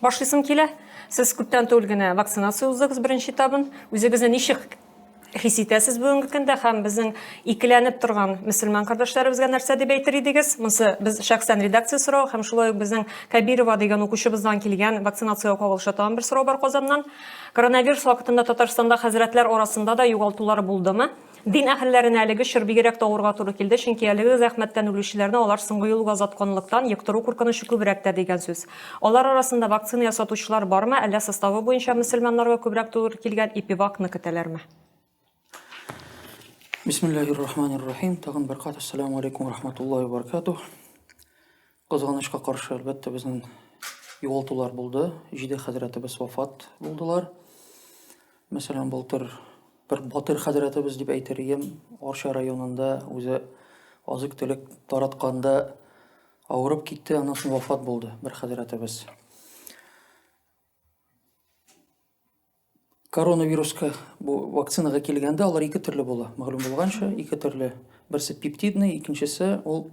Башлыйсым килә. Сез күптән түгел генә вакцинация уздыгыз беренче этабын. Үзегезне ничек хис итәсез бүгенге көндә һәм безнең икеләнеп торган мөселман кардәшләребезгә нәрсә дип әйтер идегез? Монсы без шәхсән редакция сорау һәм шулай ук безнең Кабирова дигән укучыбыздан килгән вакцинациягә кагылышлы тагын бер сорау бар Казаннан. Коронавирус вакытында Татарстанда хәзрәтләр арасында да югалтулар булдымы? Дин әһелләренә әлеге чор бигрәк тә авырга туры килде, чөнки әлеге зәхмәттән үлүчеләрне алар соңгы юлга озатканлыктан, йоктыру куркынычы күбрәк тә дигән сүз. Алар арасында вакцина ясатучылар бармы, әллә составы буенча мөселманнарга күбрәк туры килгән ипивакны көтәләрме? Бисмиллаһир-рахманир-рахим. Тагын бер кат Әссәламү алейкүм вә рахматуллаһи вә баракатуһ. Кызганычка каршы, әлбәттә, безнең югалтулар булды. Җиде хәзрәтебез вафат булдылар. Мәсәлән, былтыр бер батыр хәзрәтебез дип әйтер идем, Арча районында үзе азык-төлек таратканда авырып китте, аннан соң вафат булды бер хәзрәтебез. Коронавируска бу вакцинага килгәндә алар ике төрле була. Мәгълүм булганча, ике төрле. Берсе пептидный, икенчесе ул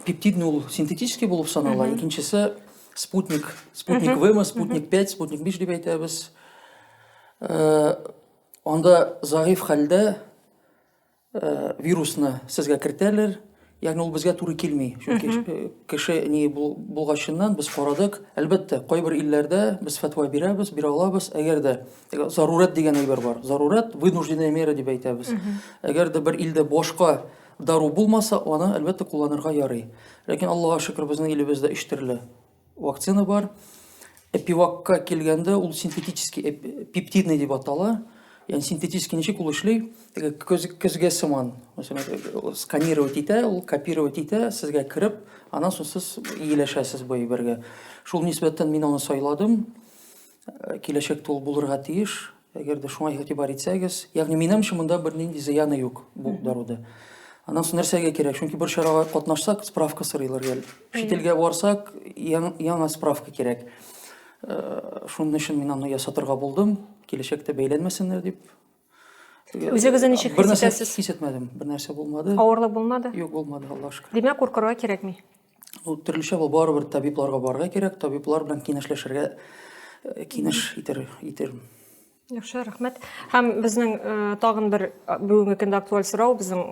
пептидный ул синтетический булып санала, икенчесе спутник, спутник ВМ, спутник 5, спутник 5 дип әйтәбез. Э, анда заиф хәлдә Э, вирусны сезгә кертәлер ягъни ул безгә туры килми чөнки э, кеше ни булгачыннан без карадык әлбәттә кайбер илләрдә без фәтва бирәбез бирә алабыз әгәр дә зарурәт дигән әйбер бар зарурәт вынужденная мера дип әйтәбез әгәр дә бер илдә башка дару булмаса аны әлбәттә кулланырга ярый ләкин аллага шөкер безнең илебездә өч төрле Вакцина бар. Эпивакка килгәндә ул синтетический пептидный дип атала. Ягъни синтетический ничек ул эшли? Теге көзгә сыман. Мәсәлән, сканировать итә, ул копировать итә, сезгә кереп, аннан соң сез ияләшәсез бу әйбергә. Шул нисбәттән мин аны сайладым. Э, киләчәктә ул булырга тиеш әгәр дә шуңа игътибар итсәгез ягъни минемчә монда бернинди зыяны юк бу даруда анан соң нәрсәгә кирәк чөнки бер чарага катнашсак справка сорыйлар гел чит илгә барсак яңа справка кирәк э, шуның өчен мин аны ясатырга булдым киләчәктә бәйләнмәсеннәр дип Үзегезне ничек хис итәсез? Хис итмәдем. Бер нәрсә булмады. Авырлык булмады? Юк, булмады, Аллаһ шөкер. Димәк, куркырга кирәкми. Ул төрлечә бу барыбер табибларга барырга кирәк, табиблар белән киңәшләшергә э, киңәш итер итермен. Яхшы, рәхмәт. Һәм безнең э, тагын бер э, бүгенге көндә актуаль сорау, безнең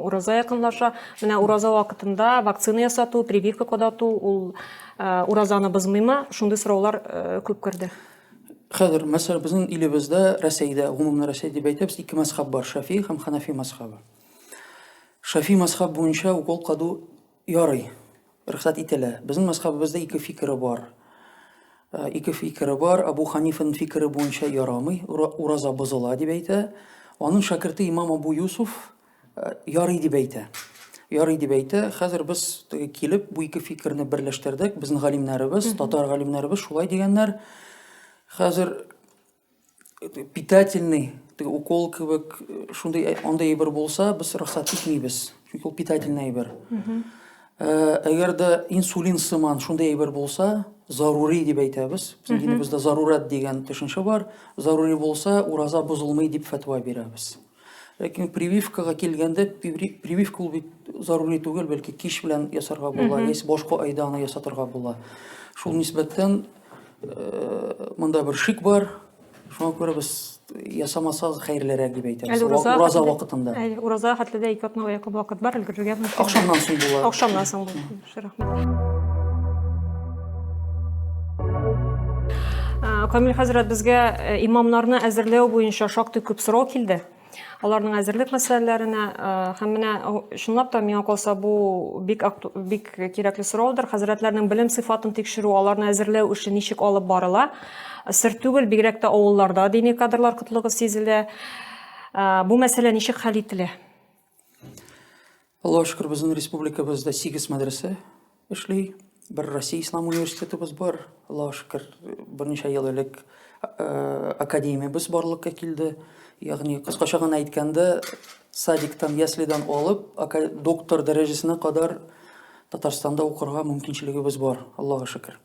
ураза якынлаша. Менә ураза вакытында вакцина ясату, прививка кадату, ул э, уразаны бозмыймы? Шундый сораулар э, күп керде. Хәзер, мәсәлән, безнең илебездә, Рәсәйдә, гомумән Рәсәй дип әйтәбез, ике мәзхәб бар, Шафи һәм Ханафи мәзхәбе. Шафи мәзхәб буенча укол каду ярый, рөхсәт ителә. Безнең мәзхәбебездә ике фикере бар. Э, ике фикере бар. Абу Ханифаның фикере буенча ярамый, ураза бозыла дип әйтә. Аның шәкерте имам Абу Юсуф ярый дип әйтә. Ярый дип әйтә. Хәзер без теге килеп бу ике фикерне берләштердек. Безнең галимнәребез, татар галимнәребез шулай дигәннәр. Хәзер питательный теге укол кебек шундый андый әйбер булса, без рөхсәт итмибез. Чөнки ул питательный әйбер. Әгәр дә инсулин сыман шундый әйбер булса, зарури дип әйтәбез. Безнең динебездә зарурат дигән төшенчә бар. Зарури булса, ураза бозылмый дип фәтва бирәбез. Ләкин прививкага килгәндә, прививка ул бит зарури түгел, бәлки кич белән ясарга була, яисә башка айда аны ясатырга була. Шул нисбәттән э, монда бер шик бар. Шуңа күрә без ясамасагыз хәерлерәк дип әйтәбез. Ураза вакытында. Ураза хәтле дә ике атна вакыт бар, өлгерергә мөмкин. Ахшамнан соң була. Ахшамнан соң була. Яхшы, рәхмәт. Камил хәзрәт, безгә э, имамнарны әзерләү буенча шактый күп сорау килде аларның әзерлек мәсьәләләренә э, һәм менә чынлап та миңа калса бу бик бик кирәкле сораудыр хәзрәтләрнең белем сыйфатын тикшерү аларны әзерләү эше ничек алып барыла сер түгел бигрәк тә авылларда дини кадрлар кытлыгы сизелә э, бу мәсьәлә ничек хәл ителә Аллаһ шөкер, безнең республикабызда 8 мәдрәсә эшли. Бер Россия ислам университетыбыз бар. Аллаһ шөкер, берничә ел элек э, академиябез барлыкка килде. Ягъни кыскача гына әйткәндә, садиктан, яслидан алып, ака- доктор дәрәҗәсенә кадәр Татарстанда укырга мөмкинчелегебез бар, Аллаһ шөкер.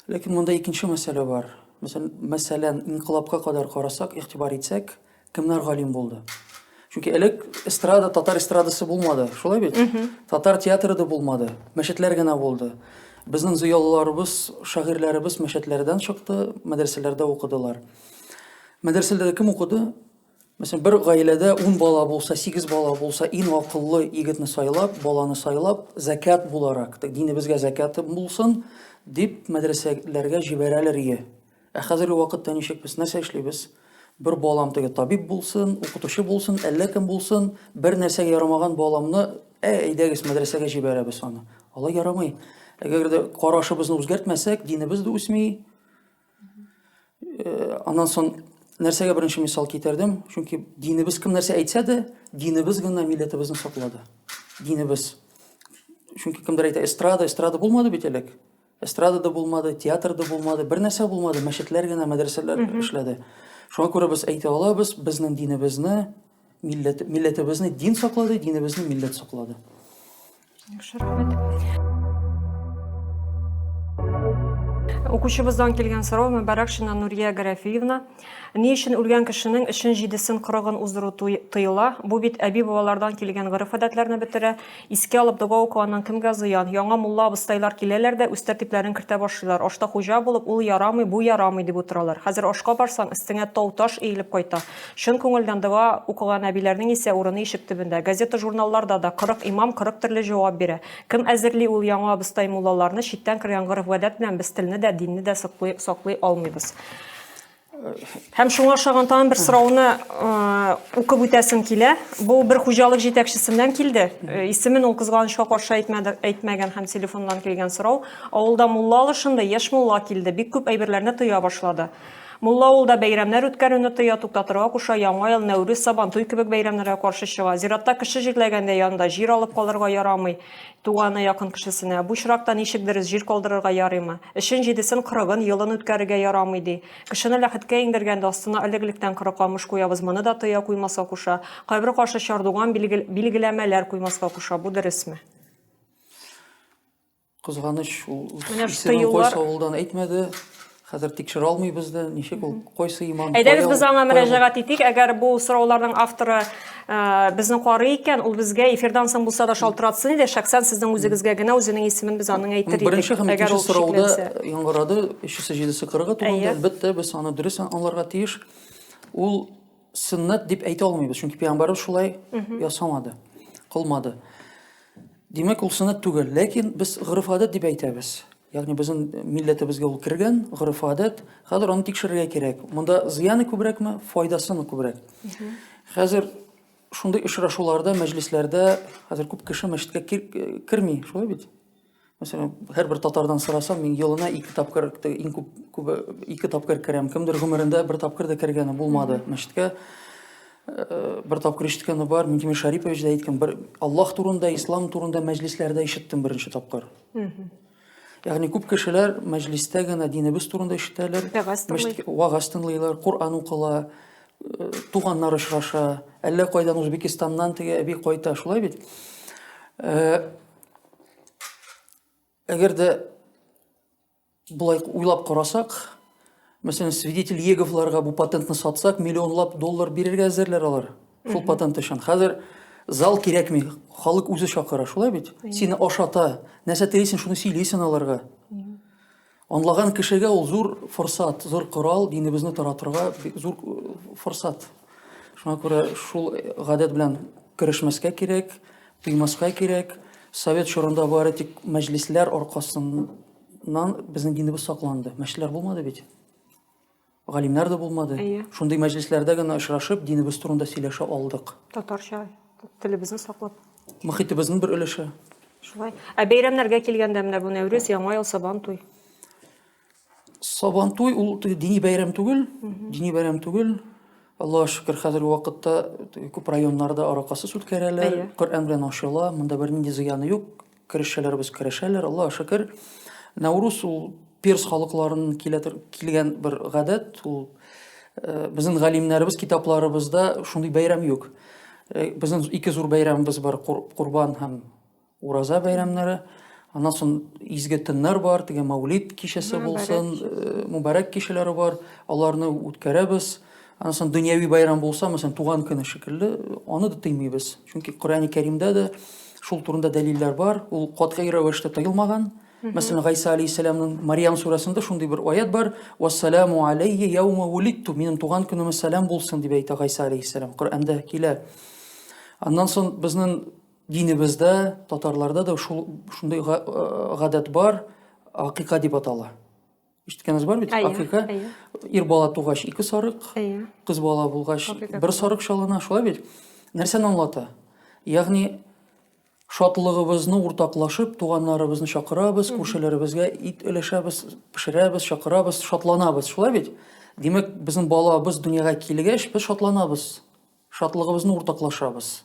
Ләкин монда икенче мәсьәлә бар. Мәсәл- Мәсәлән, инкылапка кадәр карасак, игътибар итсәк, Кемнәр галим булды? Чөнки элек эстрада, татар эстрадасы булмады, шулай бит? Татар театры да булмады, мәчетләр генә булды. Безнең зыялыларыбыз, шагыйрьләребез мәчетләрдән чыкты, мәдрәсәләрдә укыдылар. Мәдрәсәләрдә кем укыды? Мәсәлән, бер гаиләдә 10 бала булса, 8 бала булса, иң акыллы егетне сайлап, баланы сайлап, закят буларак, динебезгә закят булсын, дип мәдрәсәләргә җибәрәләр ие. Ә хәзерге вакытта ничек без нәрсә эшлибез? Бер балам теге табиб булсын, укытучы булсын, әллә кем булсын, бер нәрсәгә ярамаган баламны, ә әйдәгез мәдрәсәгә җибәрәбез аны. Алай ярамый. Әгәр дә карашыбызны үзгәртмәсәк, динебез дә үсми. Э, аннан соң нәрсәгә беренче мисал китердем? Чөнки динебез кем нәрсә әйтсә дә, динебез гына милләтебезне саклады. Динебез. Чөнки кемдер әйтә, эстрада, эстрада булмады бит элек. Эстрада да булмады, театр да булмады, бер нәрсә булмады, мәчетләр генә, мәдрәсәләр эшләде. Шуңа күрә без әйтә алабыз, безнең динебезне, милләт, милләтебезне дин саклады, динебезне милләт саклады. Яхшы, рәхмәт. Укучыбыздан килгән сорау Мөбарәкшина Нурия Гарәфиевна. Ни өчен үлгән кешенең өчен җидесен кырыгын уздыру тыела? Бу бит әби-бабалардан килгән гореф-гадәтләрне бетерә. Искә алып дога укыганнан кемгә зыян? Яңа мулла абыстайлар киләләр дә, үз тәртипләрен кертә башлыйлар. Ашта хуҗа булып, ул ярамый, бу ярамый, дип утыралар. Хәзер ашка барсаң, өстеңә тау-таш иелеп кайта. Чын күңелдән дога укыган әбиләрнең исә урыны ишек төбендә. Газета-журналларда да кырык имам кырык төрле җавап бирә. Кем әзерли ул яңа абыстай-муллаларны, читтән кергән гореф-гадәт белән без телне дә, динне дә саклый алмыйбыз. Һәм шуңа ошаган тагын бер сорауны укып үтәсем килә. Бу бер хуҗалык җитәкчесеннән килде. Исемен ул кызганычка каршы әйтмәде, әйтмәгән һәм телефоннан килгән сорау. Авылда мулла алышынды, яшь мулла килде, бик күп әйберләрне тыя башлады. Мулла авылда бәйрәмнәр үткәрүне тыя, туктатырга куша, Яңа ел, Нәүрүз, Сабантуй кебек бәйрәмнәргә каршы чыга. Зиратта кеше җирләгәндә янында җир алып калырга ярамый. Туганы, якын кешесенә, Бу чоракта ничек дөрес җир калдырырга ярыймы? Эшен җидесен, кырыгын, елын үткәрергә ярамый, ди. Кешене ләхеткә иңдергәндә, астына элек-электән кырык камыш куябыз, моны да Тыя куймаска куша. Кайбер каршы чардуган, билгел, билгеләмәләр куймаска куша. Бу дөресме? Кызганыч, ул Менә ш исемен тыюлар- кайсы авылдан әйтмәде. Хәзер тикшерә алмыйбыз да, ничек ул, кайсы имам? Әйдәгез без аңа мөрәҗәгать итик, әгәр бу сорауларның авторы э, безне карый икән, ул безгә эфирдан соң булса да шалтыратсын иде, шәхсән сезнең үзегезгә генә үзенең исемен без аның әйтер идек. Беренче һәм икенче сорауда яңгырады, өчесе җидесе кырыгы турында, әлбәттә, без аны дөрес аңларга тиеш. Ул сөннәт дип әйтә алмыйбыз, чөнки пәйгамбәрбез шулай ясамады, кылмады. Димәк, ул сөннәт түгел, ләкин без гырыф гадәт дип әйтәбез. Ягъни безнең милләтебезгә ул кергән, гореф-гадәт. Хәзер аны тикшерергә кирәк. Монда зыяны күбрәкме, файдасымы күбрәк? Хәзер шундый очрашуларда, мәҗлесләрдә хәзер күп кеше мәчеткә керми, шулай бит? Мәсәлән, һәрбер татардан сорасам, мин елына ике тапкыр, иң күп күбе ике тапкыр керәм. Кемдер гомерендә бер тапкыр да кергәне булмады мәчеткә. Э, бер тапкыр ишеткәне бар, Минтимер Шарипович да әйткән, бер Аллаһ турында, ислам турында мәҗлесләрдә ишеттем беренче тапкыр. Ягъни күп кешеләр мәҗлистә генә динебез турында ишетәләр, вагаз тыңлыйлар, Коръән укыла, э, туганнар очраша, әллә кайдан Үзбекистаннан теге әби кайта, шулай бит? Э, әгәр дә Болай уйлап карасак, мәсәлән, свидетель Еговларга бу патентны сатсак, миллионлап доллар бирергә әзерләр алар. Шул патент өчен. Хәзер зал кирәкми, халык үзе чакыра, шулай бит? Сине ашата, нәрсә телисең, шуны сөйлисең аларга. Анлаган кешегә ул зур форсат, зур корал, динебезне таратырга зур э, форсат. Шуңа күрә шул гадәт белән керешмәскә кирәк, Тыймаска кирәк. Совет чорында бары тик мәҗлесләр аркасыннан безнең динебез сакланды. Мәчетләр булмады бит. Галимнәр дә булмады. Әйе. Шундый мәҗлесләрдә генә очрашып, динебез турында сөйләшә алдык. Татарча телебезне саклап. Мөхитебезнең бер өлеше. Шулай. Ә бәйрәмнәргә килгәндә менә бу Нәүрүз, Яңа ел, Сабан туй. Сабантуй ул дини бәйрәм түгел, дини бәйрәм түгел. Аллаһ шөкер, хәзерге вакытта күп районнарда аракасыз үткәрәләр. Коръән белән ачыла, монда бернинди зыяны юк. Керешәләребез керешәләр, Аллаһ шөкер. Наурус ул перс халыкларының килгән бер гадәт, ул э, безнең галимнәребез китапларыбызда шундый бәйрәм юк. Э, безнең ике зур бәйрәмебез бар, Курбан һәм Ураза бәйрәмнәре, аннан соң изге төннәр бар, теге Маулид кичәсе булсын, э, мубарәк кичәләре бар, аларны үткәрәбез. Аннан соң дөньяви бәйрәм булса, мәсәлән, туган көне шикелле, аны да тыймыйбыз. Чөнки Коръәни Кәримдә дә шул турында дәлилләр бар. Ул катгый рәвештә тыелмаган. Мәсәлән, Гайса алейһиссәламның Мариям сүрәсендә шундый бер аят бар: "Вассаламу алейхи яума улитту", минем туган көнемә сәлам булсын дип әйтә Гайса алейһиссәлам. Коръәндә килә. Аннан соң безнең Динебездә, татарларда да шул шундый га- э, гадәт бар, акыйка дип атала. Ишеткәнегез бар бит? Әйе, Акыйка. әйе. Ир бала тугач ике сарык, Әйе. кыз бала булгач Акыйка бер сарык чалына, шулай бит? Нәрсәне аңлата? Ягъни шатлыгыбызны уртаклашып, туганнарыбызны чакырабыз, күршеләребезгә ит өләшәбез, пешерәбез, чакырабыз, шатланабыз, шулай бит? Димәк, безнең балабыз дөньяга килгәч, без шатланабыз. Шатлыгыбызны уртаклашабыз.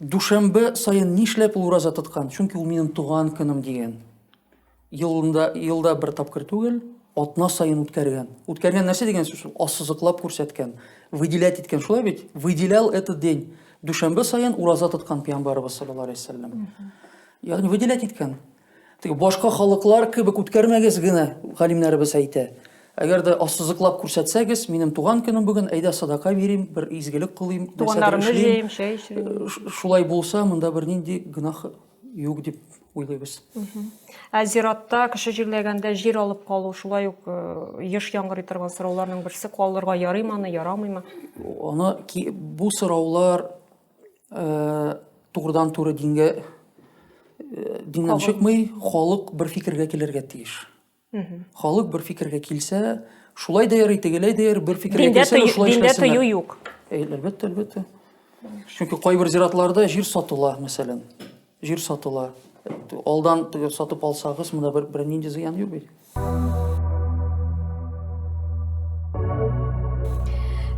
Дүшәмбе саен нишләп ул ураза тоткан? Чөнки ул минем туган көнем дигән. Елында, елда бер тапкыр түгел, атна саен үткәргән. Үткәргән нәрсә дигән сүз ул? Ассызыклап күрсәткән, выделять иткән, шулай бит? Выделял этот день. Дүшәмбе саен ураза тоткан пиямбарыбыз саллаллаху алейхи вәсәлләм. Ягъни выделять иткән. Теге башка халыклар кебек үткәрмәгез генә, галимнәребез әйтә. Әгәр дә ассызыклап күрсәтсәгез, минем туган көнем бүген, әйдә садака бирим, бер изгелек кылыйм, Туганнарымны җыйм, чәй эчим. Шулай булса, монда бер нинди гөнаһ юк дип уйлыйбыз. Ә зиратта кеше җирләгәндә җир алып калу шулай ук э, еш яңгырый торган сорауларның берсе калырга ярыймы аны, ярамыймы? Аны бу сораулар э, турыдан туры дингә э, диңнән чыкмый халык бер фикергә килергә тиеш халык бер фикергә килсә шулай да ярый тегеләй дә ярый бер фикергә килсә шулай диндә тыю юк әлбәттә әлбәттә чөнки кайбер зиратларда җир сатыла мәсәлән Җир сатыла. Алдан теге сатып алсагыз, монда бер бернинди зыян юк бит.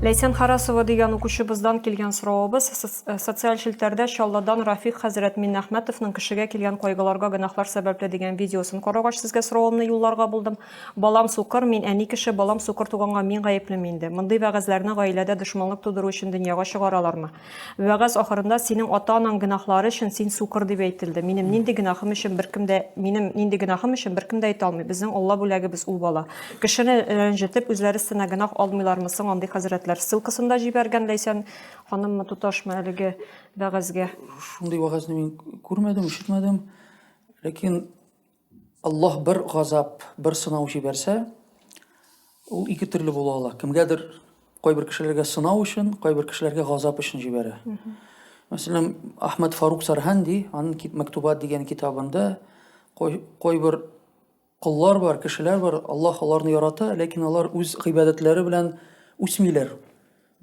Ләйсән Харасова дигән укучыбыздан килгән соравыбыз э, социаль челтәрдә Чалладан Рафик хәзрәт Миннәхмәтовның кешегә килгән кайгыларга гөнаһлар сәбәпле дигән видеосын карагач сезгә соравымны юлларга булдым. Балам сукыр, мин әни кеше, балам сукыр туганга мин гаеплеме инде? Мондый вәгазьләрне гаиләдә дошманлык тудыру өчен дөньяга чыгаралармы? Вәгазь ахырында синең ата-анаң гөнаһлары өчен син сукыр дип әйтелде. Минем нинди гөнаһым өчен беркем дә минем нинди гөнаһым өчен беркем дә әйтә алмый. Безнең Алла бүләгебез ул бала. Кешене рәнҗетеп, үзләре өстенә гөнаһ алмыйлармы соң андый хәзрәтләр? Ссылкасын да җибәргән Ләйсән ханыммы, туташмы әлеге вәгазьгә. Шундый вәгазьне мин күрмәдем, ишетмәдем. Ләкин Аллаһ бер газап, бер сынау җибәрсә, ул ике төрле була ала. Кемгәдер кайбер кешеләргә сынау өчен, кайбер кешеләргә газап өчен җибәрә. Мәсәлән, Ахмад Фарук Сарханди аның Мәктубат дигән китабында кайбер коллар бар, кешеләр бар, Аллаһ аларны ярата, ләкин алар үз гыйбадәтләре белән үсмиләр.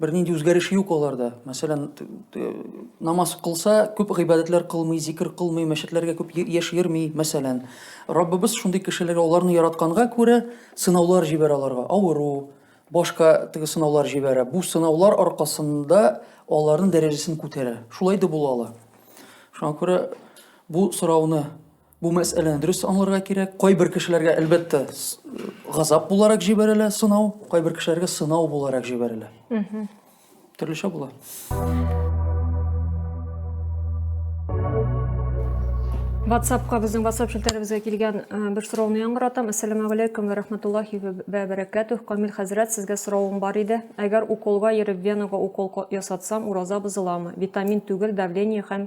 бер нинди үзгәреш юк аларда. Мәсәлән, намаз кылса, күп гыйбадәтләр кылмый, зикр кылмый, мәчетләргә күп яшь йөрми, мәсәлән. Раббыбыз шундый кешеләргә аларны яратканга күрә сынаулар җибәрә аларга. Авыру, башка теге сынаулар җибәрә. Бу сынаулар аркасында аларның дәрәҗәсен күтәрә. Шулай да була ала. Шуңа күрә бу сорауны Бу мәсьәләне дөрес аңларга кирәк. Кайбер кешеләргә, әлбәттә, газап буларак җибәрелә сынау, кайбер кешеләргә сынау буларак җибәрелә. Төрлечә була. WhatsAppка безнең WhatsApp челтәребезгә килгән э, бер сорауны яңгыратам. Ассаламу алейкум ва рахматуллахи ва баракатух. Камил хәзрәт, сезгә соравым бар иде. Әгәр уколга йөреп венага укол ясатсам, ураза бозыламы? Витамин түгел, давление һәм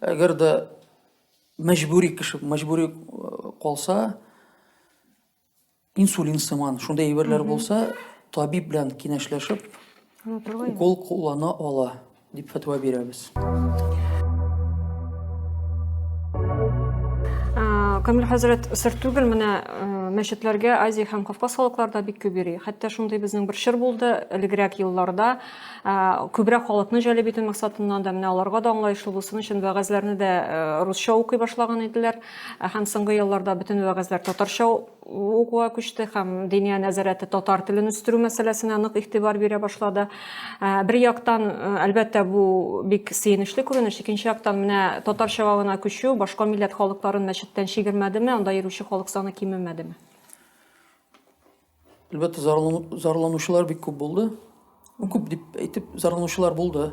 Әгәр дә мәҗбүри кеше, мәҗбүри э, калса, инсулин сыман, шундай әйберләр булса, табиб белән киңәшләшеп, укол куллана ала, дип фәтва бирәбез. Камил хәзрәт, сыр түгел, менә э, мәчетләргә Азия һәм Кавказ халыкларда бик күп йөри. Хәтта шундый безнең бер чор булды, элегрәк елларда күбрәк халыкны җәлеп итү максатыннан да менә аларга да аңлаешлы булсын өчен вәгазьләрне дә русча укый башлаган иделәр һәм соңгы елларда бөтен вәгазьләр татарча укуга күчте һәм диния нәзарәте татар телен үстерү мәсьәләсенә нык игътибар бирә башлады бер яктан әлбәттә бу бик сөенечле күренеш икенче яктан менә татарчага гына күчү башка милләт халыкларын мәчеттән чигермәдеме анда йөрүче халык саны кимемәдеме Әлбәттә, зарланучылар бик күп булды. Ну, күп дип әйтеп, зарланучылар булды.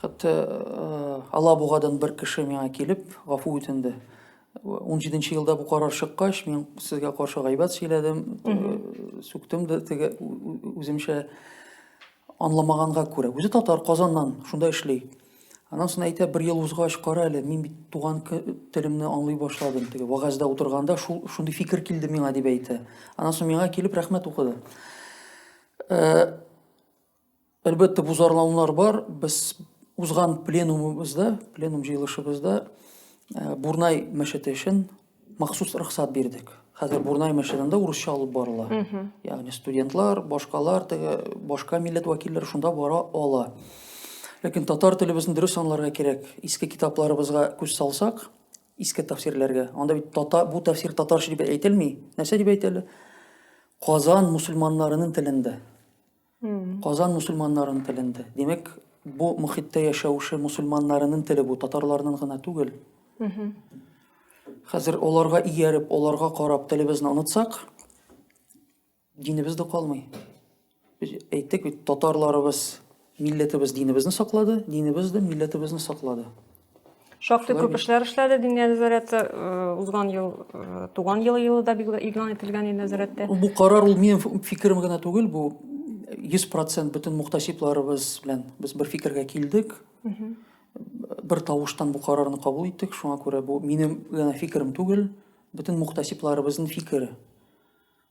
Хәтта э, Алабугадан бер кеше миңа килеп, гафу үтенде. 17 елда бу карар чыккач, мин сезгә каршы гайбәт сөйләдем, э, сүктем дә теге үземчә анламаганга күрә. Үзе татар Казаннан, шунда эшли. Анан соң әйтә, бер ел узгач, кара әле, мин бит туган телемне аңлый башладым. Теге вагазда утырганда шул шундый фикер килде миңа дип әйтә. Анан соң миңа килеп рәхмәт укыды. Әлбәттә, бу зарланулар бар. Без узган пленумыбызда, пленум җыелышыбызда Бурнай мәчете өчен махсус рөхсәт бирдек. Хәзер Бурнай мәчетендә урысча алып барыла. Ягъни студентлар, башкалар, теге башка милләт вәкилләре шунда бара ала. Ләкин татар телебезне дөрес аңларга кирәк. Иске китапларыбызга күз салсак, иске тәфсирләргә. Анда бит тата, бу тәфсир татарча дип әйтелми. Нәрсә дип әйтелә? Казан мусульманнарының телендә. Казан мусульманнарын теленде. Димәк, бу мохиттә яшәүше мусульманнарының теле бу, татарларның гына түгел. Хәзер оларга ияреп, оларга карап телебезне онытсак, динебез дә калмый. Без әйттек бит, татарларыбыз милләтебез динебезне саклады, динебез дә милләтебезне саклады. Шактый күп эшләр эшләде Диния нәзарәте. Узган ел туган ел елы да игълан ителгән иде нәзарәттә. Бу карар ул минем фикерем генә түгел, бу 100% бөтен мухтасибларыбыз белән без бер фикергә килдек. Бер тавыштан бу карарны кабул иттек. Шуңа күрә бу минем генә фикерем түгел, бөтен мухтасибларыбызның фикере.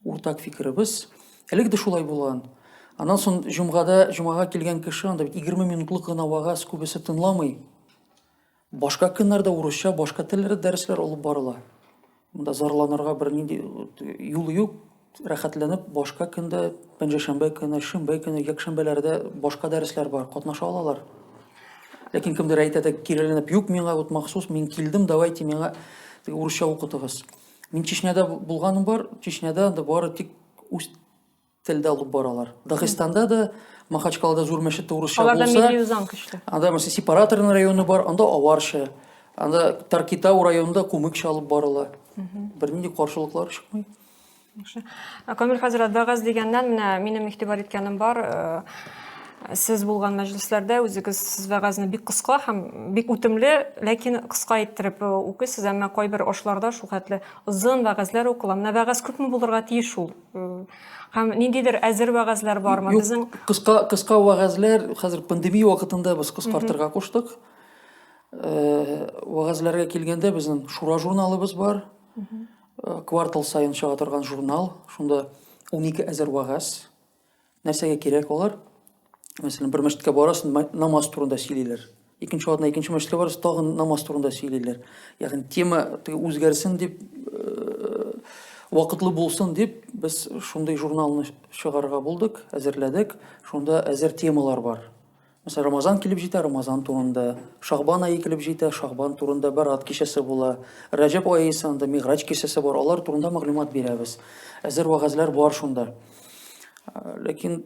Уртак фикеребез, әлеге дә шулай булган. Аннан соң җомгада, җомага килгән кеше анда бит 20 минутлык гына вагаз, күбесе тынламый. Башка көннәрдә урысча, башка телләр дәресләр алып барыла. Монда зарланырга бернинди э, юл юк. Рәхәтләнеп башка көндә, пәнҗәшәмбе көне, шимбә көне, якшәмбеләрдә башка дәресләр бар, катнаша алалар. Ләкин кемдер әйтә дә киреләнеп, юк, миңа вот махсус, мин килдем, давайте миңа урысча укытыгыз. Мин Чечняда булганым бар, Чечняда анда бары тик үз телдә алып баралар. Дагыстанда да, Махачкалада зур мәчет урысча булса. Аларда милли үзаң көчле. Анда мәсә сепараторный районы бар, анда аварча. Анда Таркитау районында кумыкча алып барыла. Бернинди каршылыклар чыкмый. Камил хәзрәт, вәгазь дигәннән менә минем игътибар иткәнем бар. Э, Сез булган мәҗлесләрдә үзегез вәгазьне бик кыска һәм бик үтемле, ләкин кыска иттереп э, укыйсыз, әмма кайбер ашларда шул хәтле озын вәгазьләр укыла. Менә вәгазь күпме булырга тиеш ул? Э, һәм ниндидер әзер вәгазьләр бармы? Безнең кыска кыска вәгазьләр хәзер пандемия вакытында без кыскартырга куштык. Э, вәгазьләргә килгәндә безнең Шура журналыбыз бар. Квартал саен чыга торган журнал. Шунда 12 әзер вәгазь Нәрсәгә кирәк алар? Мәсәлән, бер мәчеткә барасың, намаз турында сөйлиләр. Икенче атна икенче мәчеткә барасың, тагын намаз турында сөйлиләр. Ягъни тема үзгәрсен дип, э, вакытлы булсын дип, без шундый журналны чыгарга булдык, әзерләдек. Шунда әзер темалар бар. Мәсәлән, Рамазан килеп җитә, Рамазан турында. Шагбан ае килеп җитә, Шагбан турында Бәрат кичәсе була. Рәҗәб ае исә анда Мигъраҗ кичәсе бар, алар турында мәгълүмат бирәбез. Әзер вәгазьләр бар шунда. Ләкин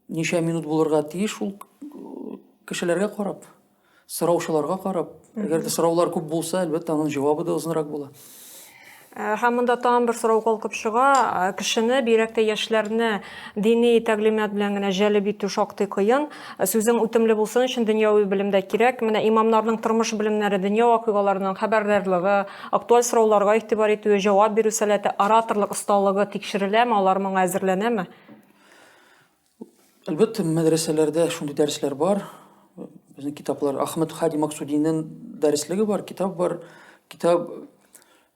ничә минут булырга тиеш шул кешеләргә карап, сораучыларга карап. Әгәр дә сораулар күп булса, әлбәттә, аның җавабы да озынрак була. Э, һәм монда тагын бер сорау калкып чыга э, кешене бигрәк тә яшьләрне дини тәглимат белән генә җәлеп итү шактый кыен э, сүзең үтемле булсын өчен дөньяви белем дә кирәк менә имамнарның тормыш белемнәре дөнья вакыйгаларының хәбәрдарлыгы актуаль сорауларга игътибар итүе җавап бирү сәләте ораторлык осталыгы тикшереләме алар моңа әзерләнәме Әлбәттә, мәдрәсәләрдә шундый дәресләр бар. Безнең китаплар Ахмед Хади Максудиннең дәреслеге бар, китап бар. Китап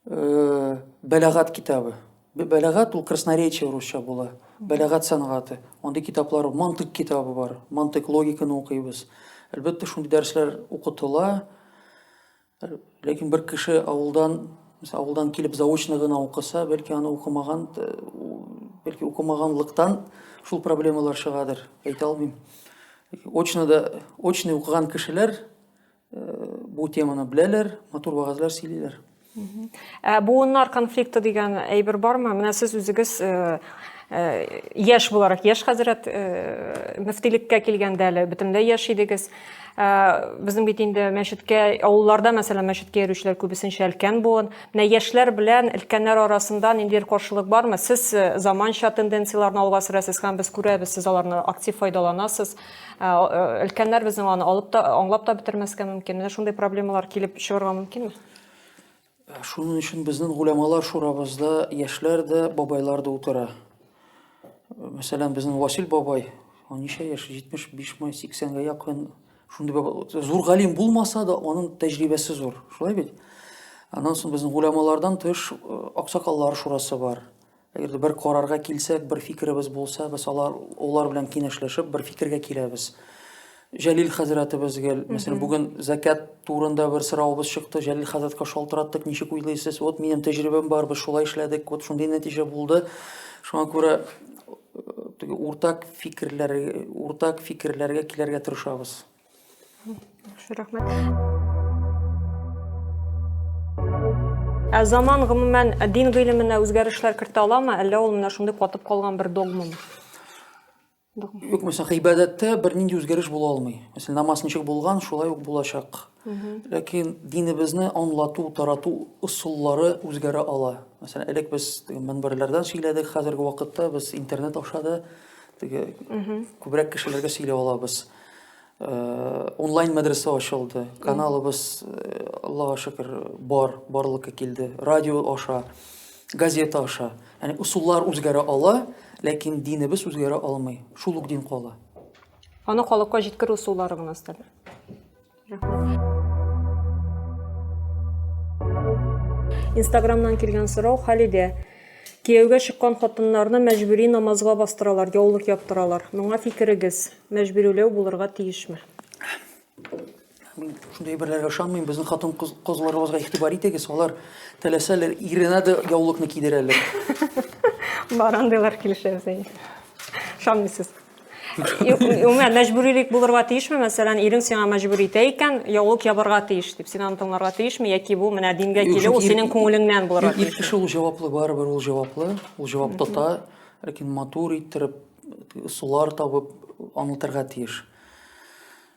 э, Бәләгат китабы. Бәләгат ул красноречие русча була. Бәләгат сәнгате. Андый китаплар, мантык китабы бар. Мантык логиканы укыйбыз. Әлбәттә, шундый дәресләр укытыла. Ләкин бер кеше авылдан, мисал, авылдан килеп заочно гына укыса, бәлки аны укымаган, э, бәлки укымаганлыктан шул проблемалар чыгадыр, әйтә алмыйм. Очно да, очный укыган кешеләр э, бу теманы беләләр, матур вәгазьләр сөйлиләр. Ә буыннар конфликты дигән әйбер бармы? Менә сез үзегез э, Э, яшь буларак яшь хәзрәт э, мөфтилеккә килгәндә әле бөтенләй яшь идегез безнең бит инде мәчеткә авылларда мәсәлән мәчеткә йөрүчеләр күбесенчә өлкән буын менә яшьләр белән өлкәннәр арасында ниндидер каршылык бармы сез э, заманча тенденцияләрне алга сөрәсез һәм без күрәбез сез аларны актив файдаланасыз э, өлкәннәр безнең аны алып та аңлап та бетермәскә мөмкин менә шундый проблемалар килеп чыгарга мөмкинме Шуның өчен безнең гулямалар шурабызда яшьләр дә, бабайлар да утыра. Мәсәлән, безнең Васил бабай, ничә яшь, 75-ме, 80-гә якын, шундый бабай, зур галим булмаса да, аның тәҗрибәсе зур. Шулай бит? Аннан соң безнең гулямалардан тыш аксакаллар шурасы бар. Әгәр дә бер карарга килсәк, бер фикеребез булса, без алар, алар белән киңәшләшеп, бер фикергә киләбез. Җәлил хәзрәтебез гел, мәсәлән, бүген зәкят турында бер соравыбыз чыкты, Җәлил хәзрәткә шалтыраттык, ничек уйлыйсыз? Вот минем тәҗрибәм бар, без шулай эшләдек, вот шундый нәтиҗә булды. Шуңа күрә теге уртак фикерләр, уртак фикерләргә килергә тырышабыз. Рәхмәт. Ә заман гомумән дин гыйлеменә үзгәрешләр кертә аламы, әллә ул менә шундый катып калган бер догмамы? Юк, мәсәлән, гыйбадәттә бернинди үзгәреш була алмый. Мәсәлән, намаз ничек булган, шулай ук булачак. Ләкин динебезне аңлату, тарату ысуллары үзгәрә ала. Мәсәлән, элек без мөнбәрләрдән сөйләдек, хәзерге вакытта без интернет аша да күбрәк кешеләргә сөйләп алабыз. Э, онлайн мәдрәсә ачылды каналыбыз э, аллага шөкер бар барлыкка килде радио аша газета аша яғни ысуллар үзгәрә ала ләкин динебез үзгәрә алмый шул ук дин кала аны халыкка җиткерү ысуллары гына өстәлә Инстаграмнан килгән сорау Халидә. Кияүгә чыккан хатыннарны мәҗбүри намазга бастыралар, яулык яптыралар. Моңа фикерегез, мәҗбүриләү булырга тиешме? Мин шундый әйберләргә ышанмыйм. Безнең хатын кыз кызларыбызга игътибар итегез. Алар теләсәләр иренә дә яулыкны кидерәләр. Бар андыйлар килешәбез әйе. Ышанмыйсыз. Юк, Үмәр, мәҗбүрилек булырга тиешме? Мәсәлән, ирең сиңа мәҗбүр итә икән, яулык ябарга тиеш дип, син аны тыңларга тиешме? Яки бу менә дингә Юк, килү, ул чөнки синең күңелеңнән булырга Ир тиеш. кеше ул җаваплы, барыбер ул җаваплы. Ул җавап тота, ләкин матур иттереп, ысуллар табып аңлатырга тиеш.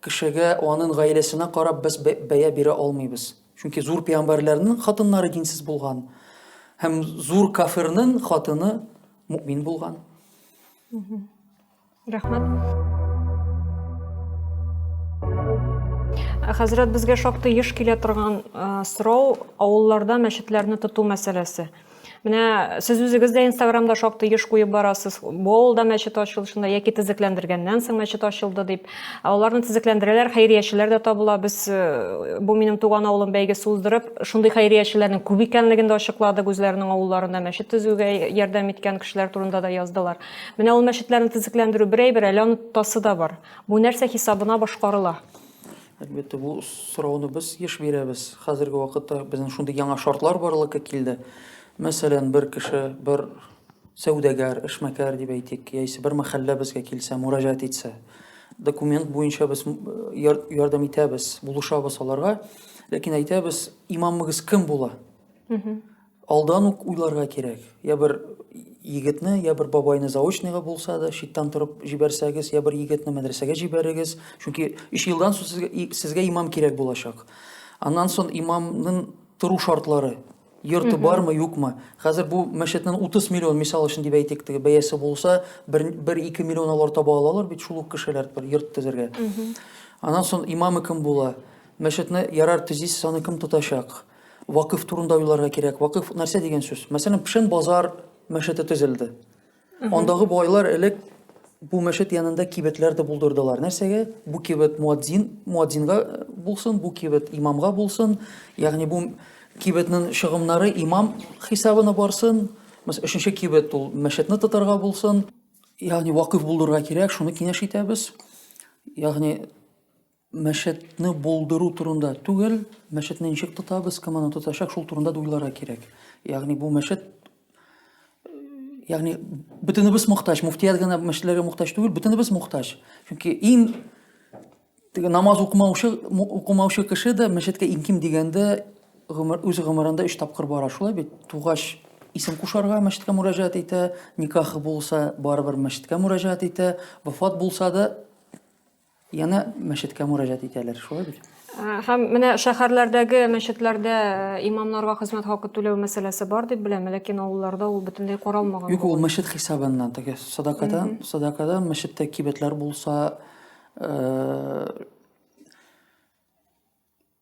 Кешегә, анын гаиләсенә карап без бәя бирә алмыйбыз. Чөнки зур пәйгамбәрләрнең хатыннары динсез булган һәм зур кафирнең хатыны мөмин булган. Рәхмәт. Хәзрәт, безгә шактый еш килә торган сорау, авылларда мәчетләрне тоту мәсьәләсе. Менә сез үзегез дә Инстаграмда шактый еш куеп барасыз. Болда мәчет ачылышында яки тезекләндергәннән соң мәчет ачылды дип. Аларны тезекләндерәләр, хәйриячеләр дә табыла. Без э, бу минем туган авылым бәйгесе уздырып, шундый хәйриячеләрнең күп икәнлеген дә ачыкладык. Үзләренең авылларында мәчет төзүгә ярдәм иткән кешеләр турында да яздылар. Менә ул мәчетләрне тезекләндерү бер әйбер, әле аны тотасы да бар. Бу нәрсә хисабына башкарыла? Әлбәттә, бу сорауны без еш бирәбез. Хәзерге вакытта безнең шундый яңа шартлар барлыкка килде. Мәсәлән, бер кеше, бер сәүдәгәр, эшмәкәр дип әйтик, яисә бер мәхәллә безгә килсә, мөрәҗәгать итсә, документ буенча без ярдәм итәбез, булышабыз аларга, ләкин әйтәбез, имамыгыз кем була? Алдан ук уйларга кирәк. Я бер егетне, я бер бабайны заочныйга булса да, читтән торып җибәрсәгез, я бер егетне мәдрәсәгә җибәрегез. Чөнки 3 елдан соң сезгә, сезгә имам кирәк булачак. Аннан соң имамның тору шартлары, йорты бармы, юкмы. Хәзер бу мәчетнең 30 миллион, мисал өчен дип әйтик, теге бәясе булса, 1-2 миллион алар таба алалар бит шул ук кешеләр бер йорт төзергә. Аннан соң имамы кем була? Мәчетне ярар төзисез, аны кем тотачак? Вакыф турында уйларга кирәк. Вакыф нәрсә дигән сүз? Мәсәлән, Пшен базар мәчете төзелде. Андагы байлар элек бу мәчет янында кибетләр дә булдырдылар. Нәрсәгә? Бу кибет муадзин, муадзинга э, булсын, бу кибет имамга булсын. Ягъни бу кибетнең чыгымнары имам хисабына барсын. Мәсәлән, өченче кибет ул мәчетне тотарга булсын. Ягъни вакыф булдырырга кирәк, шуны киңәш итәбез. Ягъни мәчетне булдыру турында түгел, мәчетне ничек тотабыз, кем аны тотачак, шул турында да уйларга кирәк. Ягъни бу мәчет ягъни бөтенебез мохтаҗ, муфтият гына мәчетләргә мохтаҗ түгел, бөтенебез мохтаҗ. Чөнки иң теге намаз укымаучы укымаучы кеше дә мәчеткә иң ким дигәндә гомер үз гомерендә 3 тапкыр бара, шулай бит? Тугач исем кушарга мәчеткә мөрәҗәгать итә, никахы булса, барыбер мәчеткә мөрәҗәгать итә, вафат булса да Яна мәчеткә мөрәҗәт итәләр, шулай бит? Һәм менә шәһәрләрдәге мәчетләрдә имамнарга хезмәт хакы түләү мәсьәләсе бар дип беләм, ләкин авылларда ул бөтенләй каралмаган. Юк, ул мәчет хисабыннан, теге садакадан, садакадан мәчеттә кибетләр булса,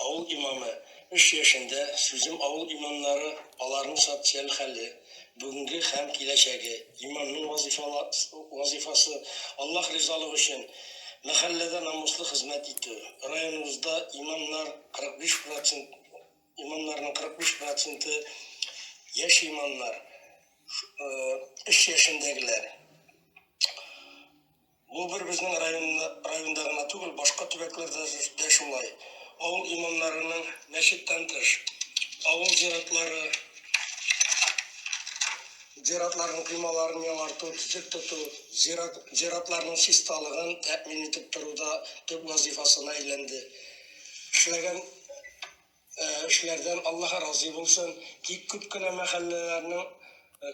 Авыл имамы эш яшендә сүзем авыл имамнары, аларның социаль хәле, бүгенге һәм киләчәге, имамның вазифасы, Аллаһ ризалыгы өчен мәхәлләдә намуслы хезмәт итү, районыбызда имамнар 45 процент имамнарның 45 проценты яшь имамнар, эш яшендәгеләр. Бу бер безнең районда районда гына түгел, башка төбәкләрдә дә шулай. Авыл имамнарының, мәчеттән тыш, авыл зиратлары, зиратларның коймаларын яңарту, төзек тоту, зират зиратларның чисталыгын тәэмин итеп тору да төп вазыйфасына әйләнде. Эшләгән эшләрдән Аллаһ разый булсын, тик күп кенә мәхәлләләрнең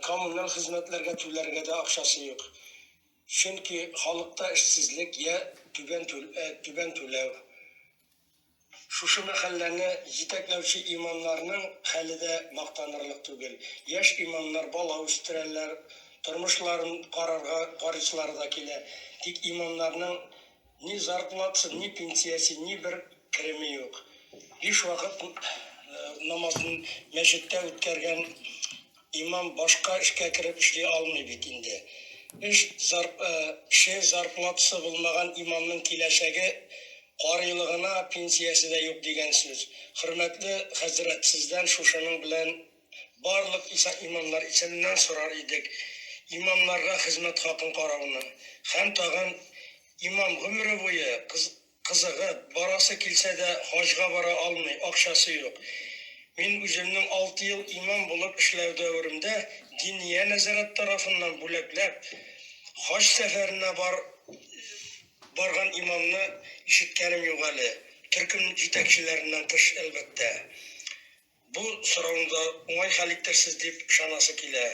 коммуналь хезмәтләргә түләргә дә акчасы юк. Чөнки халыкта эшсезлек йә түбән түләү. Шушы мәхәлләне җитәкләүче имамнарның хәле дә мактанырлык түгел. Яшь имамнар бала үстерәләр, тормышларын карарга карыйсылары да килә. Тик имамнарның. Ни зарплатасы, ни пенсиясе, ни бер кереме юк. Биш вакыт намазын мәчеттә үткәргән имам башка эшкә кереп эшли алмый бит инде. Эш зар, ше зарплатасы булмаган имамның киләчәге карыйлыгына пенсиясе дә юк дигән сүз. Хөрмәтле хәзрәт, сездән шушының белән Барлык иса имамнар исеменнән сорар идек, имамнарга хезмәт хакын карауны. Һәм тагын, имам гомере буе кызыгып, барасы килсә дә, хаҗга бара алмый, акчасы юк. Мин үземнең алты ел имам булып эшләү дәверемдә Диния нәзарәт тарафыннан бүләкләп, хаҗ сәфәренә барган имамны ишеткәнем юк әле, төркем җитәкчеләреннән тыш, әлбәттә. Бу сорауны да уңай хәл итерсез дип ышанасы килә.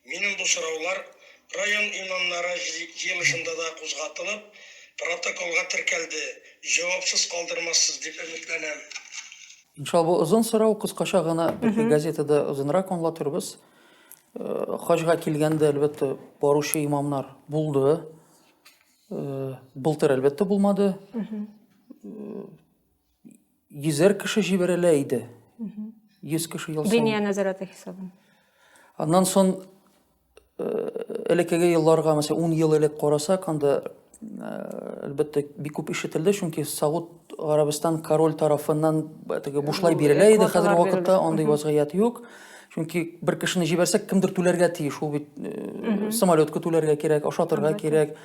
Минем бу сораулар район имамнары җыелышында да кузгатылып, протоколга теркәлде, җавапсыз калдырмассыз дип өметләнәм. Иншалла, бу озын сорау кыскача гына бәлки газетада озынрак аңлатырбыз. Хаҗга килгәндә, әлбәттә, баручы имамнар булды. Былтыр, әлбәттә, булмады. Йөзәр кеше җибәрелә иде. Йөз кеше ел саен. Биния нәзарәте хисабын. Аннан сон э, элеккеге елларга, мәсәлән, 10 ел элек карасак, анда әлбәттә э, бик күп ишетелде, чөнки Сауд Арабистан король тарафыннан теге бушлай бирелә иде. Хәзер вакытта андый вазгыять юк. Чөнки бер кешене җибәрсәк, кемдер түләргә тиеш. Ул бит э, самолетка түләргә кирәк, ашатырга кирәк.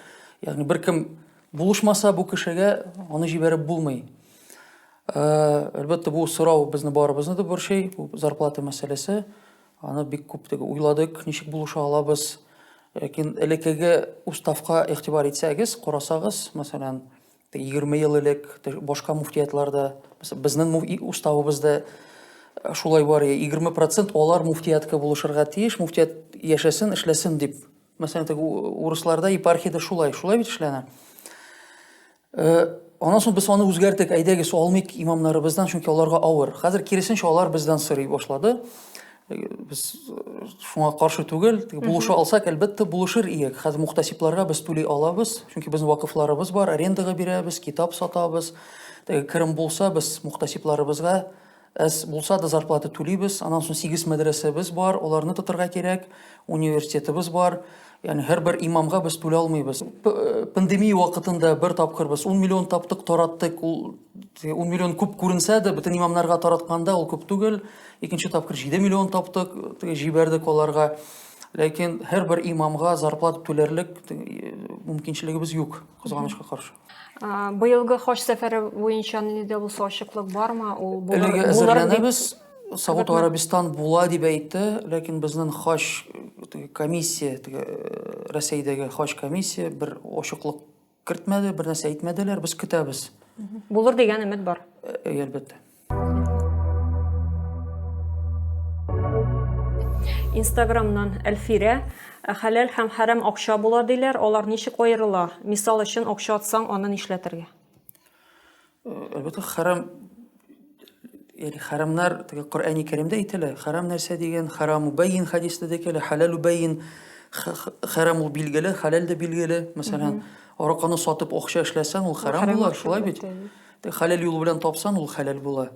Ягъни беркем Булышмаса бу кешегә аны җибәреп булмый. Әлбәттә, бу сорау безне барыбызны да борчый, бу зарплата мәсьәләсе. Аны бик күп уйладык, ничек булыша алабыз. Ләкин элекеге уставка игътибар итсәгез, карасагыз, мәсәлән, 20 ел элек башка муфтиятларда, безнең уставыбызда шулай бар, 20% алар муфтиятка булышырга тиеш, муфтият яшәсен, эшләсен дип Мәсәлән, теге урысларда епархиядә шулай, шулай бит эшләнә. Э, аннан соң без аны үзгәртек, әйдәгез, алмыйк имамнарыбыздан, чөнки аларга авыр. Хәзер киресенчә алар бездән сорый башлады. Э, без э, шуңа каршы түгел, булыша алсак, әлбәттә, булышыр иек. Хәзер мухтасипларга без түли алабыз, чөнки безнең вакыфларыбыз бар, арендага бирәбез, китап сатабыз. Керем булса, без мухтасипларыбызга Әз булса да зарплата түлибез. Аннан соң сигез мәдрәсәбез бар, аларны тотырга кирәк. Университетыбыз бар. Яни һәрбер имамга без түлә алмыйбыз. Э, пандемия вакытында бер тапкыр без 10 миллион таптык, тараттык. Ул 10 миллион күп күренсә дә, бөтен имамнарга таратканда ул күп түгел. Икенче тапкыр 7 миллион таптык, җибәрдек аларга. Ләкин һәрбер имамга зарплата түләрлек э, мөмкинчелегебез юк, кызганычка каршы. Быелгы хаҗ сәфәре буенча нинди дә булса ачыклык бармы? Ул булыр, Әлеге әзерләнәбез. Сауд Арабистан була дип әйтте, ләкин безнең хаҗ комиссия, теге Рәсәйдәге хаҗ комиссия бер ачыклык кертмәде, бер нәрсә әйтмәделәр, без көтәбез. Булыр дигән өмет бар. Әлбәттә. Инстаграмнан Әлфирә, «Ә хәләл һәм хәрам акча була диләр, алар ничек аерыла? Мисал өчен, акча атсаң, аны нишләтергә? Әлбәттә, хәрам яни хәрамнар теге Коръәни Кәримдә әйтелә. Хәрам нәрсә дигән? Хәраму бәйин хәдистә дә килә, хәләлу бәйин. Х- х- Хәрам ул билгеле, хәләл дә билгеле. Мәсәлән, араканы сатып акча эшләсәң, ул хәрам хәрам була, акча шулай бит. әлбәттә. Хәләл юл белән тапсан, ул хәләл була.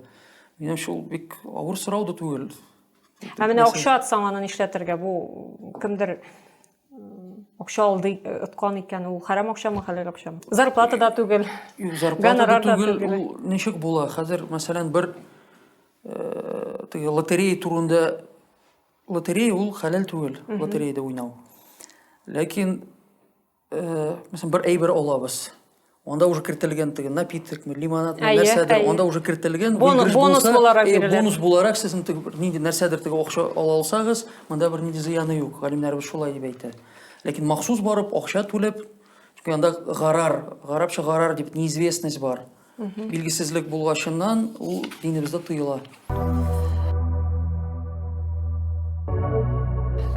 Минемчә, ул бик авыр сорау да түгел. Ә менә акча атсаң, аны нишләтергә? Бу кемдер акча алды, откан икән, ул хәрәм акчамы, хәләл акчамы? Зарплата да түгел. Юк, зарплата да түгел. Ул ничек була? Хәзер, мәсәлән, бер э, теге лотерея турында лотерея ул хәләл түгел, лотереяда уйнау. Ләкин мәсәлән бер әйбер алабыз анда уже кертелгән теге напиткме лимонадмы нәрсәдер анда уже кертелгән бонус бонус буларак бирелә бонус буларак сез нинди нәрсәдер теге акча ала алсагыз монда бер нинди зыяны юк галимнәребез шулай дип әйтә ләкин махсус барып акча түләп анда гарар гарапча гарар дип неизвестность бар Билгесезлек булгачыннан ул динебездә тыела.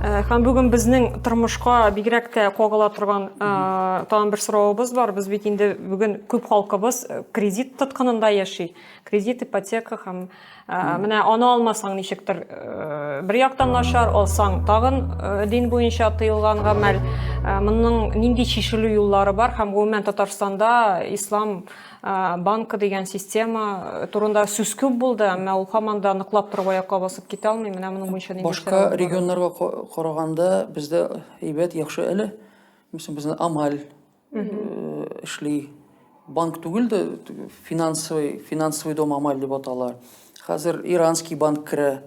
Һәм бүген безнең тормышка бигрәк тә кагыла торган тагын бер соравыбыз бар. Без бит инде бүген күп халкыбыз кредит тоткынында яши. Кредит, ипотека һәм Ә, менә аны алмасаң ничектер э, бер яктан начар алсаң тагын э, дин буенча тыелган гамәл ә, моның нинди чишелү юллары бар һәм гомумән татарстанда ислам ә, банкы дигән система э, турында сүз күп булды әмма ул һаман да ныклап торып аякка басып китә алмый менә моның буенча нинди башка регионнарга караганда бездә әйбәт яхшы әле безнең амаль эшли банк түгел дә финансовый финансовый дом амаль дип атала хәзер иранский банк керә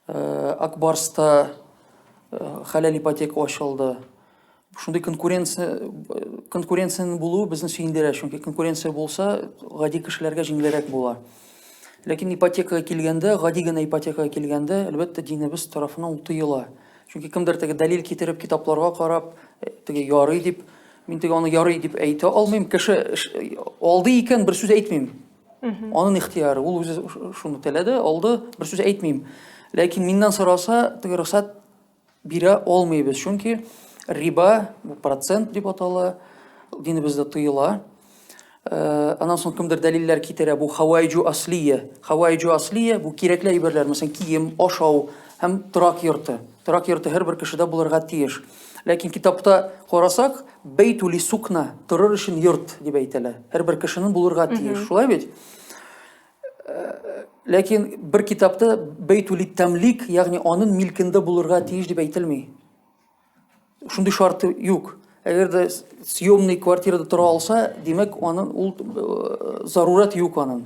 э, акбарста э, хәләл ипотека ачылды шундый конкуренция конкуренциянең булуы безне сөендерә чөнки конкуренция булса гади кешеләргә җиңелрәк була ләкин ипотекага килгәндә гади генә ипотекага килгәндә әлбәттә динебез тарафынан ул тыела Чөнки кемдер теге дәлил китереп, китапларга карап, э, теге ярый дип, мин теге аны ярый дип әйтә алмыйм. Кеше алды икән, бер сүз әйтмим. Анын ихтияры, ул үзе шуны теләде, алды, бер сүз әйтмим. Ләкин миннән сораса, теге рөхсәт бирә алмыйбыз, чөнки риба, процент дип атала, динебездә тыела. Э, анан соң кемдер дәлилләр китерә бу хавайджу аслия хавайджу аслия бу кирәкле әйберләр мәсәлән кием ашау һәм торак йорты торак йорты һәрбер кешедә булырга тиеш ләкин китапта карасак бейтули сукна торыр өчен йорт дип әйтәләр һәрбер кешенең булырга тиеш шулай бит э, ләкин бер китапта бейтули тәмлик ягъни аның милкендә булырга тиеш дип әйтелми Шундый шарты юк. Әгәр дә съемный квартирада тора алса, димәк, аның ул э, зарурат юк аның.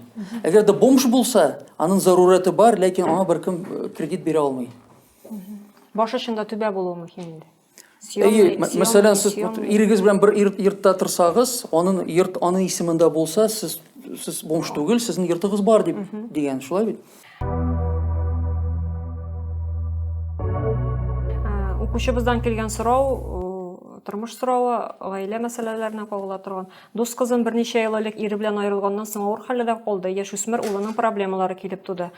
Әгәр дә бомж булса, аның зарураты бар, ләкин аңа беркем э, кредит бирә алмый. Баш очында түбә булуы мөһим инде. Әйе, мәсәлән, сез ирегез белән бер йортта торсагыз, аның йорт аның исемендә булса, сез сез бомж түгел, сезнең йортыгыз бар дип дигән, шулай бит? Укучыбыздан килгән сорау, тормыш соравы, гаилә мәсьәләләренә кагыла торган. Дус кызым берничә ел элек ире белән аерылганнан соң авыр хәлдә калды, яшүсмер улының проблемалары килеп туды.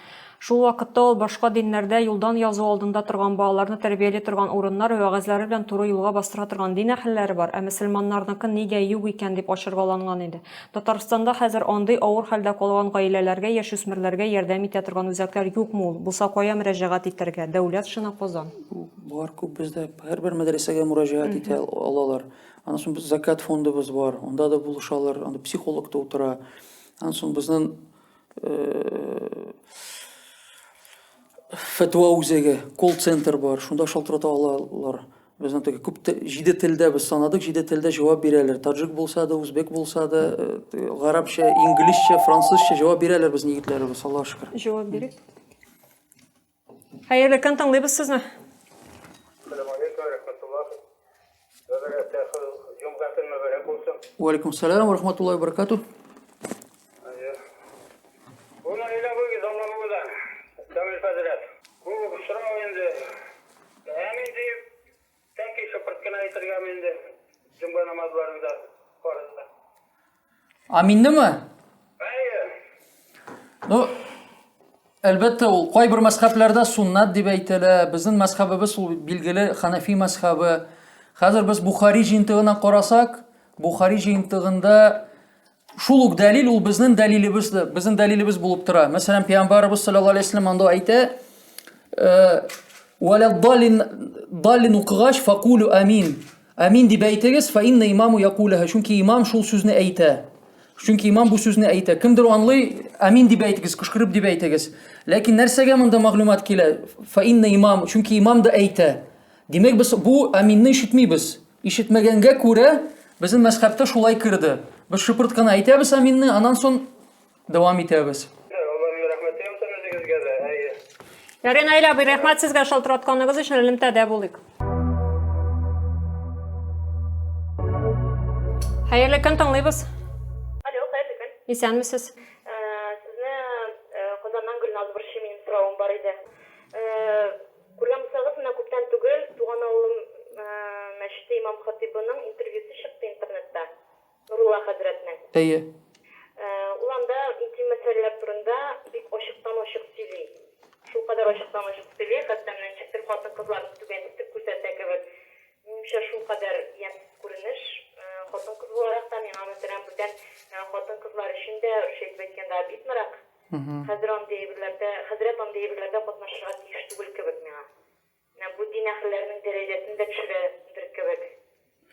Шул вакытта ул башка диннәрдә юлдан язу алдында торган балаларны тәрбияли торган урыннар вәгазьләре белән туры юлга бастыра торган дин әһелләре бар, ә мөселманнарныкы нигә юк икән дип ачыргаланган иде. Татарстанда хәзер андый авыр хәлдә калган гаиләләргә, яшүсмерләргә ярдәм итә торган үзәкләр юкмы ул? Булса, кая мөрәҗәгать итәргә? Дәүләт шына Казан. Бар күп бездә, һәрбер мәдрәсәгә мөрәҗәгать итә алалар. Аннан соң без Закят фондыбыз бар, анда да булышалар, анда психолог та утыра. Аннан соң безнең фәтва үзәге, колл-центр бар, шунда шалтырата алалар. Безнең теге күп җиде телдә без санадык, җиде телдә җавап бирәләр. Таҗик булса да, үзбек булса да, э, гарәпчә, инглизчә, французча җавап бирәләр безнең егетләребез, Аллаһ шөкер. Җавап бирик. Хәерле көн, тыңлыйбыз сезне. Уалейкум салям, ва рахматуллахи ва баракатух. Һәм инде тәки шыпырт кына әйтергәме инде җомга намазларында фарызда. Аминнеме? Әйе. Ну, әлбәттә, ул кайбер мәзхәбләрдә суннат дип әйтелә. Безнең мәзхәбебез ул билгеле Ханафи мәзхәбе. Хәзер без Бухари җыентыгына карасак, Бухари җыентыгында Шул ук дәлил ул безнең дәлилебез, безнең дәлилебез булып тора. Мәсәлән, пәйгамбарыбыз саллаллаһу алейһи вәсәлләм анда әйтә, э, «Вәлә далин далин укыгач факулю амин». Амин дип әйтегез, фа инна имаму якуләһә. Чөнки имам шул сүзне әйтә. Чөнки имам бу сүзне әйтә. Кемдер анлый, амин дип әйтегез, кычкырып дип әйтегез. Ләкин нәрсәгә монда мәгълүмат килә? Фа инна имам, чөнки имам да әйтә. Димәк, без бу аминны ишетмибез. Ишетмәгәнгә күрә, безнең мәзхәбтә шулай керде. Без шыпырт кына әйтәбез аминны, аннан сон дәвам итәбез. Аллаһның рәхмәте яусын үзегезгә дә, әйе. Ярый, Наил абый, рәхмәт сезгә шалтыратканыгыз өчен, элемтәдә булыйк. Хәерле көн, тыңлыйбыз. Алло, хәерле көн. Исәнмесез. Сезне Казаннан Гөлназ борчый, минем соравым бар иде. Күргән булсагыз, менә күптән түгел туган авылым мәчете имам-хатыйбының интервьюсы чыкты интернетта, Нурулла хәзрәтнең. Әйе. Ул анда интим мәсьәләләр турында бик ачыктан-ачык сөйли. Шулкадәр ачыктан-ачык сөйли, хәтта менә ничек тел хатын-кызларны түбән итеп күрсәтә кебек. Минемчә, шулкадәр ямьсез күренеш. Хатын-кыз буларак та, миңа, мәсәлән, бүтән хатын-кызлар өчен дә, русча итеп әйткәндә, обиднорак. Хәзер андый әйберләрдә, хәзрәт андый әйберләрдә катнашырга тиеш түгел кебек миңа. Менә бу дин әһелләренең дәрәҗәсен дә төшерә дер кебек.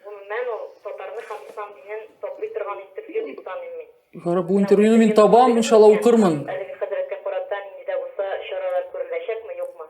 Гомумән, ул татарны һәм ислам динен таплый торган интервью дип саныйм мин. Ярар, бу интервьюны мин табам, иншалла укырмын. Әлеге хәзрәткә карата нинди дә булса чаралар күреләчәкме, юкмы?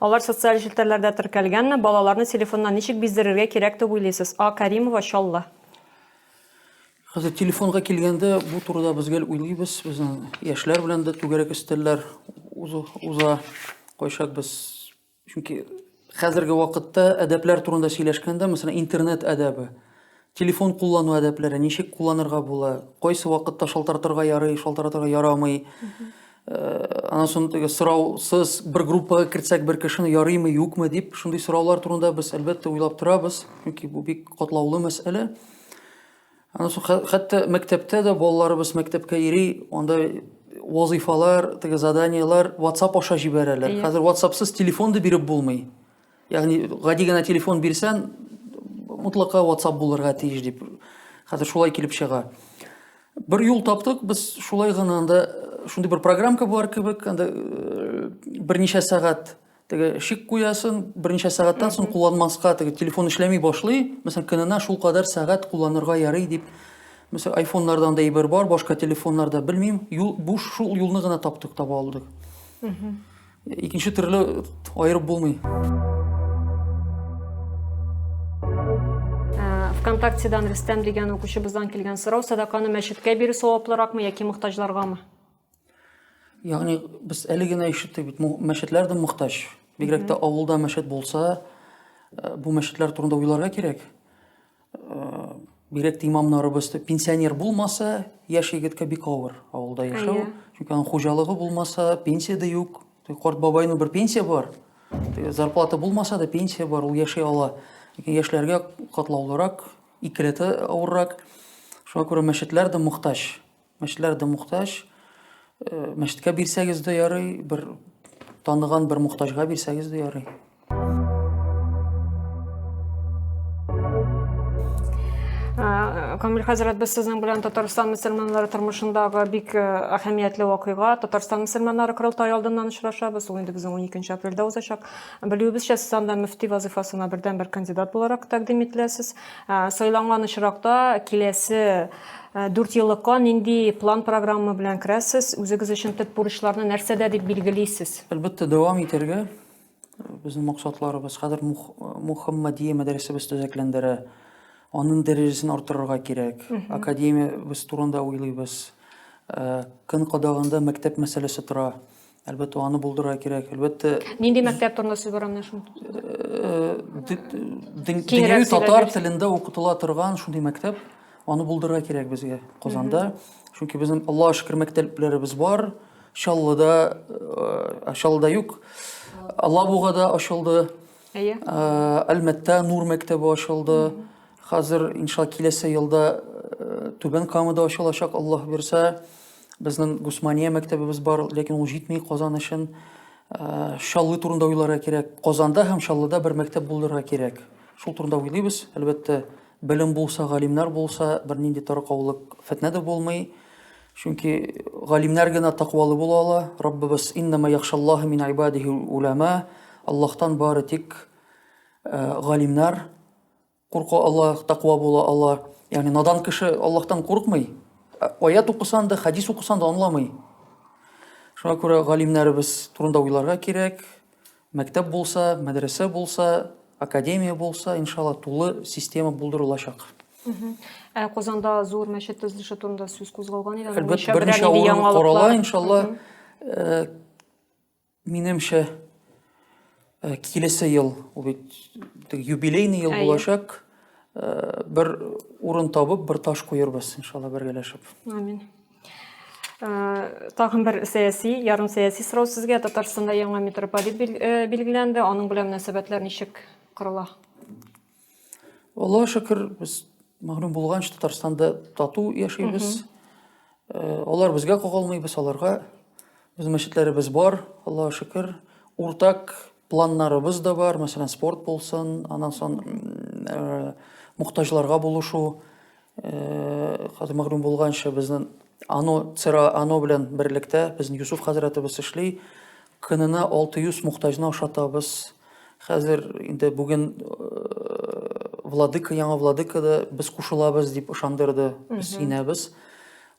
Алар социаль челтәрләрдә теркәлгәнме? Балаларны телефоннан ничек биздерергә кирәк дип уйлыйсыз? А. Кәримова, Чаллы. Хәзер телефонга килгәндә, бу турыда без гел уйлыйбыз. Безнең яшьләр белән дә түгәрәк өстәлләр уза. Кайчак без чөнки хәзерге вакытта әдәпләр турында сөйләшкәндә, мәсәлән, интернет әдәбе. Телефон куллану әдәпләре, ничек кулланырга була, кайсы вакытта шалтыратырга ярый, шалтыратырга ярамый. Э, анан соң теге сораусыз бер группага кертсәк бер кешене ярыймы, юкмы дип, шундый сораулар турында без әлбәттә уйлап торабыз, чөнки бу бик катлаулы мәсьәлә. Анан соң хәтта мәктәптә дә балаларыбыз мәктәпкә йөри, анда вазыйфалар, теге заданиелар WhatsApp аша җибәрәләр. Хәзер WhatsAppсыз телефон да биреп булмый. Ягъни гади генә телефон бирсәң, мутлака WhatsApp булырга тиеш дип. Хәзер шулай килеп чыга. Бер юл таптык, без шулай гына анда э, шундый бер программка бар кебек, анда э, берничә сәгать теге шик куясын, берничә сәгатьтән соң кулланмаска теге телефон эшләми башлый. Мәсәлән, көненә шул кадәр сәгать кулланырга ярый дип. Мәсәлән, айфоннарда анда әйбер бар, башка телефоннарда белмим. Юл, бу шул юлны гына таптык, таба алдык. Икенче төрле аерып булмый. Э, ВКонтактедан Рөстәм дигән укучыбыздан килгән сорау, садаканы мәчеткә бирү саваплыракмы яки мохтаҗларгамы? Ягъни без әле генә ишеттек бит, мәчетләр дә мохтаҗ. Бигрәк тә авылда мәчет булса, э, бу мәчетләр турында уйларга кирәк. бигрәк тә имамнарыбыз пенсионер булмаса, яшь егеткә бик авыр авылда яшәү. Чөнки аның хуҗалыгы булмаса, пенсия дә юк. Корт бабайның бер пенсия бар. Зарплата булмаса да пенсия бар, ул яши ала. Ләкин яшьләргә катлаулырак, икеләтә авыррак. Шуңа күрә мәчетләр дә мохтаҗ. Мәчетләр дә мохтаҗ. Э, мәчеткә бирсәгез дә ярый, бер таныган бер мохтаҗга бирсәгез дә ярый. Камил хәзрәт, без сезнең белән Татарстан мөселманнары тормышындагы бик э, әһәмиятле вакыйга, Татарстан мөселманнары корылтае алдыннан очрашабыз. Ул инде безнең 12 апрельдә узачак. Белүебезчә, сез анда мөфти вазифасына бердәнбер кандидат буларак тәкъдим ителәсез. Э, сайланган очракта киләсе Ә, Дүртьеллыкка нинди план-программа белән керәсез? Үзегез өчен төп бурычларны нәрсәдә дип билгелисез? Әлбәттә, дәвам итәргә. Безнең максатларыбыз хәзер Мух- Мухаммадия мәдрәсәбез төзекләндерә. Аның дәрәҗәсен арттырырга кирәк. Академиябез турында уйлыйбыз. Ә, Көн кадагында мәктәп мәсьәләсе тора. Әлбәттә, аны булдырырга кирәк. Әлбәттә, Нинди мәктәп турында сүз бара менә шуны? дөньяви татар телендә укытыла торган шундый мәктәп, аны булдырырга кирәк безгә Казанда. Чөнки безнең Аллаһ шөкер мәктәпләребез бар. Чаллыда, э, Чаллыда юк. Алабугада ачылды. Әйе. Э, Әлмәттә Нур мәктәбе ачылды. Хәзер иншалла киләсе елда э, Түбән Камада ачылачак, Аллаһ бирсә. Безнең Гусмания мәктәбебез бар, ләкин ул җитми Казан өчен. Э, Шаллы турында уйларга кирәк. Казанда һәм Шаллыда бер мәктәп булдырырга кирәк. Шул турында уйлыйбыз. Әлбәттә, белем булса, галимнәр булса, бернинди таркаулык, фетнә дә булмый. Чөнки галимнәр генә тәкъвалы була ала. Раббыбыз иннама яхшаллаһу мин ибадихи улама. Аллаһтан бары тик э, галимнәр Курка ала, таква була ала. Ягъни надан кеше Аллаһтан курыкмый. Ә Аят укысан да, хәдис укысан да аңламый. Шуңа күрә галимнәребез турында уйларга кирәк. Мәктәп булса, мәдрәсә булса, академия булса, иншалла, тулы система булдырылачак. Ә Казанда зур мәчет төзелеше турында сүз кузгалган иде. Әлбәттә, берничә урын карала, иншалла. Э, Минемчә, э, килесе ел, ул бит теге юбилейный ел Әйе. булачак, э, бер урын табып, бер таш куербыз, иншалла, бергәләшеп. Амин. Э, Тагын бер сәяси, ярым сәяси сорау сезгә. Татарстанда яңа митрополит бил- э, билгеләнде. Аның белән мөнәсәбәтләр ничек корыла? Аллаһ шөкер, без мәгълүм булганча Татарстанда тату яшибез. Э, алар безгә кагылмый, без аларга. Без мәчетләребез бар, Аллаһ шөкер. Уртак планнарыбыз да бар, мәсәлән, спорт булсын, аннан соң э, мухтаҗларга булышу. Э, хәзер мәгълүм булганча, безнең ано цера ано белән берлектә безнең Юсуф хәзрәтебез эшли. Көненә 600 мухтаҗны ашатабыз. Хәзер инде бүген э, владыка, яңа владыка да без кушылабыз дип ышандырды. Без инәбез.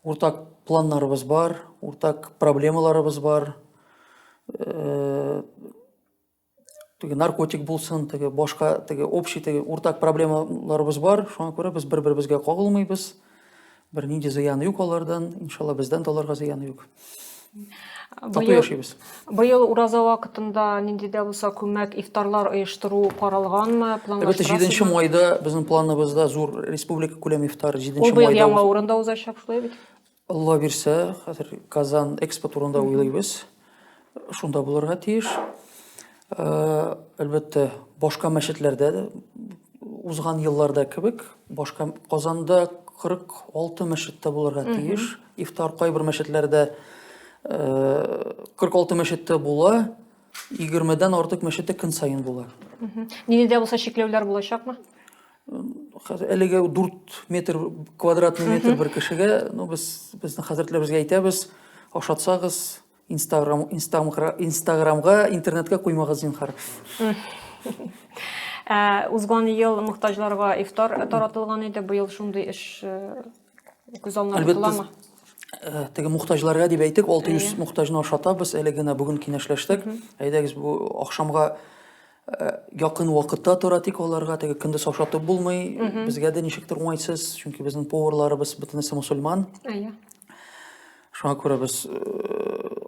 Уртак планнарыбыз бар, уртак проблемаларыбыз бар. Э, теге наркотик булсын теге башка теге общий теге уртак проблемаларыбыз бар шуңа күрә без бер беребезгә кагылмыйбыз бернинди зыяны юк алардан иншалла бездән дә аларга зыяны юк тату яшибез быел ураза вакытында нинди дә булса күмәк ифтарлар оештыру каралганмы әлбәттә җиденче майда безнең планыбызда зур республика күләм ифтары җиденче майда ул быел яңа урында узачак шулай бит Алла бирсә, хәзер Казан экспо турында уйлыйбыз. Шунда булырга тиеш. Э, әлбәттә, башка мәчетләрдә дә узган елларда кебек, башка Казанда 46 мәчеттә булырга тиеш. Ифтар кайбер мәчетләрдә 46 э, мәчеттә була, 20-дән артык мәчеттә көн саен була. Динидә булса чикләүләр булачакмы? хәзер әлегә 4 метр квадратный метр бер кешегә ну без безнең хәзрәтләребезгә әйтәбез ашатсагыз инстаграм инстаграмга интернетка куймагыз зинхар ә, узган ел мохтаҗларга ифтар таратылган иде быел шундый эш э, Күз алына тотыламы? Э, теге мухтаҗларга дип әйтик, 600 мухтаҗны ашатабыз, әле генә бүген киңәшләштек. Әйдәгез, бу ахшамга э, якын вакытта тора тик аларга теге көндез ашатып булмый. Безгә дә ничектер уңайсыз, чөнки безнең поварларыбыз бөтенесе мусульман. Әйе. Шуңа күрә без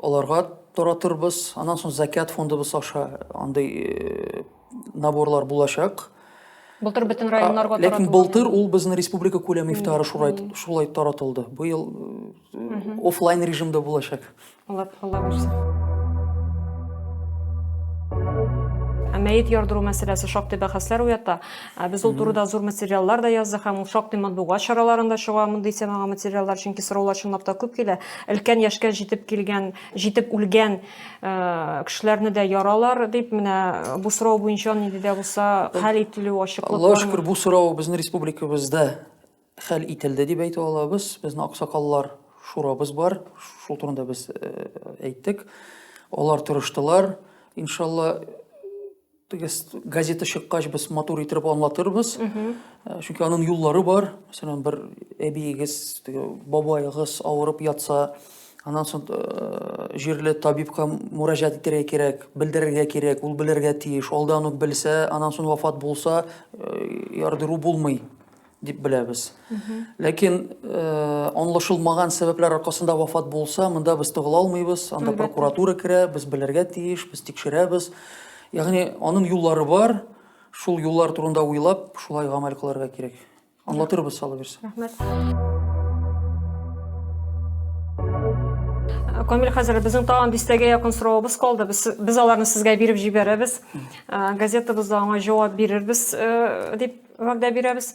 аларга таратырбыз. Аннан соң Закят фондыбыз аша андый наборлар булачак. Былтыр бөтен районнарга таратылды. Ләкин былтыр ул безнең республика күләме ифтары шулай шулай таратылды. Быел офлайн режимда булачак. Алла Алла бирсен. Мәет ярдыру мәсьәләсе шактый бәхәсләр уята. Ә без ул турыда зур материаллар да яздык һәм ул шактый матбугат чараларында чыга мондый темага материаллар, чөнки сораулар чынлап та күп килә. Өлкән яшькә җитеп килгән, җитеп үлгән э, кешеләрне дә яралар дип, менә бу сорау буенча нинди дә булса хәл ителү ачыклык Аллаһ бармы? шөкер, бу сорау безнең республикабызда хәл ителде дип әйтә алабыз. Безнең аксакаллар шурабыз бар, шул турында без э, әйттек. Алар тырыштылар. Иншалла, Без газета чыккач без матур итеп аңлатырбыз. Э, чөнки аның юллары бар. Мәсәлән, бер әбиегез, теге бабаегыз авырып ятса, аннан соң э, җирле табибка мөрәҗәгать итәргә кирәк, белдерергә кирәк, ул белергә тиеш. Алдан ук белсә, аннан соң вафат булса, э, ярдыру булмый. дип беләбез. Ләкин э, аңлашылмаган сәбәпләр аркасында вафат булса, монда без тыгыла алмыйбыз, анда прокуратура керә, без белергә тиеш, без тикшерәбез. Ягъни аның юллары бар, шул юллар турында уйлап, шулай гамәл кылырга кирәк. Аңлатырбыз сала бирсә. Рәхмәт. Камил хәзер безнең тагын дистәгә якын соравыбыз калды. Без, без аларны сезгә биреп җибәрәбез. Газетабызда аңа җавап бирербез э, дип вәгъдә бирәбез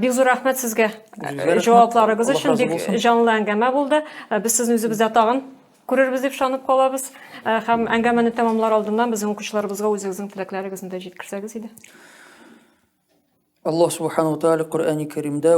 бик зур рәхмәт сезгә җавапларыгыз өчен бик җанлы әңгәмә булды без сезне үзебездә тагын күрербез дип ышанып калабыз һәм әңгәмәне тәмамлар алдыннан безнең укучыларыбызга үзегезнең теләкләрегезне дә җиткерсәгез иде аллаһ субханала тәала коръәни кәримдә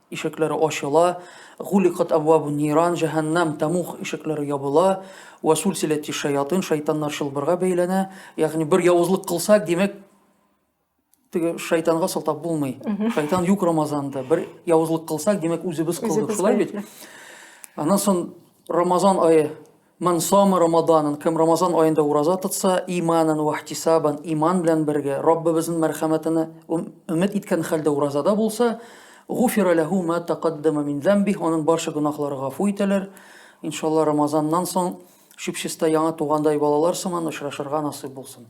Ишекләре ачыла, гуликат әбвабу ниран, җәһәннәм, тәмуг, ишекләре ябыла, вә сульсиләти шәятин, шайтаннар чылбырга бәйләнә. Ягъни бер явызлык кылса, димәк, теге шайтанга сылтап булмый. Шайтан юк Рамазанда. Бер явызлык кылсак, димәк, үзебез кылдык. Шулай бит? Аннан соң Рамазан ае Ман сама Рамаданан, кем Рамазан аенда ураза тотса, иманан вә ихтисабан, иман белән бергә, Раббыбызның мәрхәмәтенә өмет иткән хәлдә уразада булса, гуфира ләһу ма тәкаддәмә мин зәмбих, аның барча гөнаһлары гафу ителер. Иншалла, Рамазаннан соң чүп-чиста яңа тугандай балалар сыман очрашырга насыйп булсын.